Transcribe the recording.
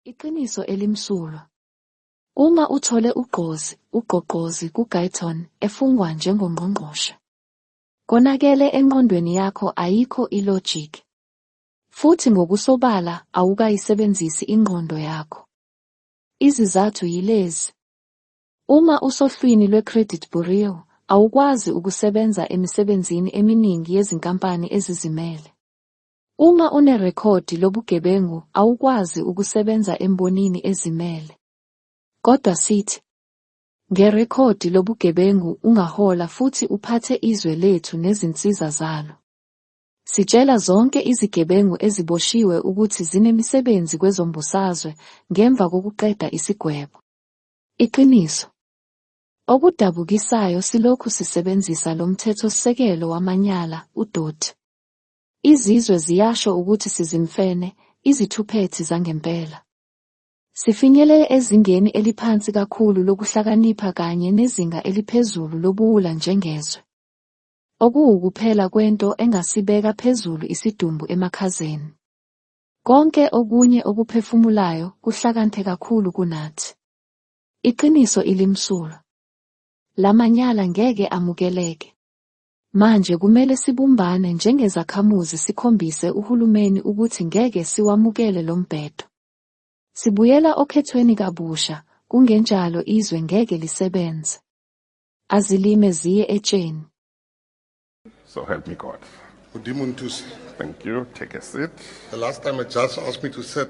Iqiniso elimsulwa. Uma uthole ugqozi, ugqogqozi kuGuyton, efungwa njengongqongqoshe. Konakele enqondweni yakho ayikho ilogic. Futhi ngokusobala awukayisebenzisi ingqondo yakho. Izizathu yilezi. Uma usohlwini lwe-credit bureau, awukwazi ukusebenza emisebenzini eminingi yezinkampani ezizimele. Uma unerekhodi lobugebengu awukwazi ukusebenza embonini ezimele. Kodwa sithi, ngerekhodi lobugebengu ungahola futhi uphathe izwe lethu nezinsiza zalo. Sitshela zonke izigebengu eziboshiwe ukuthi zinemisebenzi kwezombusazwe ngemva kokuqeda isigwebo. Iqiniso. Okudabukisayo silokhu sisebenzisa lo mthethosisekelo wamanyala, udoti. Izizwe ziyasho ukuthi sizimfene, izithuphethi zangempela. Sifinyelele ezingeni eliphansi kakhulu lokuhlakanipha kanye nezinga eliphezulu lobuwula njengezwe. Okuwukuphela kwento engasibeka phezulu isidumbu emakhazeni. Konke okunye okuphefumulayo kuhlakanthe kakhulu kunathi. Iqiniso ilimsulwa. Lamanyala ngeke amukeleke. Manje kumele sibumbane njengezakhamuzi sikhombise uhulumeni ukuthi ngeke siwamukele lo mbhedo. Sibuyela okhethweni kabusha, kungenjalo izwe ngeke lisebenze. Azilime ziye etsheni. So help me God. Udimo Ntusi. Thank you. Take a seat. The last time a judge asked me to sit,